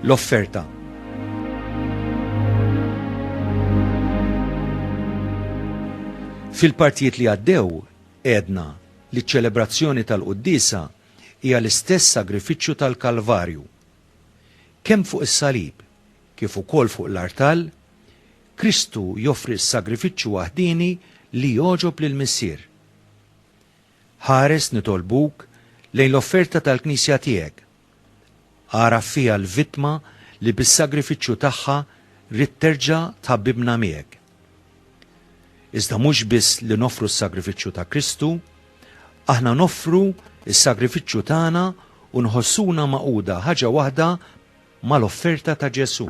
l-offerta. Fil-partijiet li għaddew, edna li ċ-ċelebrazzjoni tal-Quddisa hija l-istess sagrifiċċju tal-Kalvarju. Kemm fuq is-salib, kif ukoll fuq l-artal, Kristu joffri s-sagrifiċċju waħdieni li jogħġob lill-Missier. Ħares nitolbuk lejn l-offerta tal-Knisja tiegħek. Agħraf fiha l-vittma li bis-sagrifiċċju tagħha ridt terġa' tħabbibna miegħek. Iżda mhux biss li noffru s-sagrifiċċju ta' Kristu, aħna noffru s-sagrifiċċju tagħna u nħossuna magħquda ħaġa waħda mal-offerta ta' Ġesù.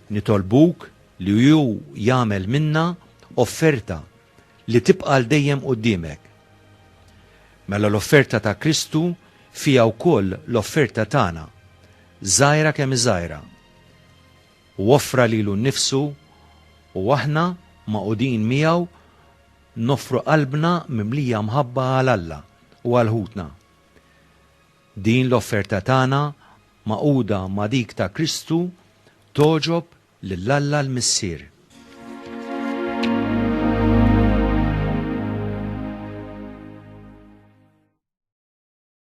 Nitolbuk li Hu jagħmel minnha offerta li tibqa' għal dejjem quddiemek. Mela l-offerta ta' Kristu fiha wkoll l-offerta tagħna, żgħira kemm hi żgħira. Hu offra lilu nnifsu u aħna, magħqudin miegħu, noffru qalbna mimlija mħabba għal Alla u għal ħutna. Din l-offerta tagħna, magħquda ma' dik ta' Kristu, togħġob lil Alla l-Missier.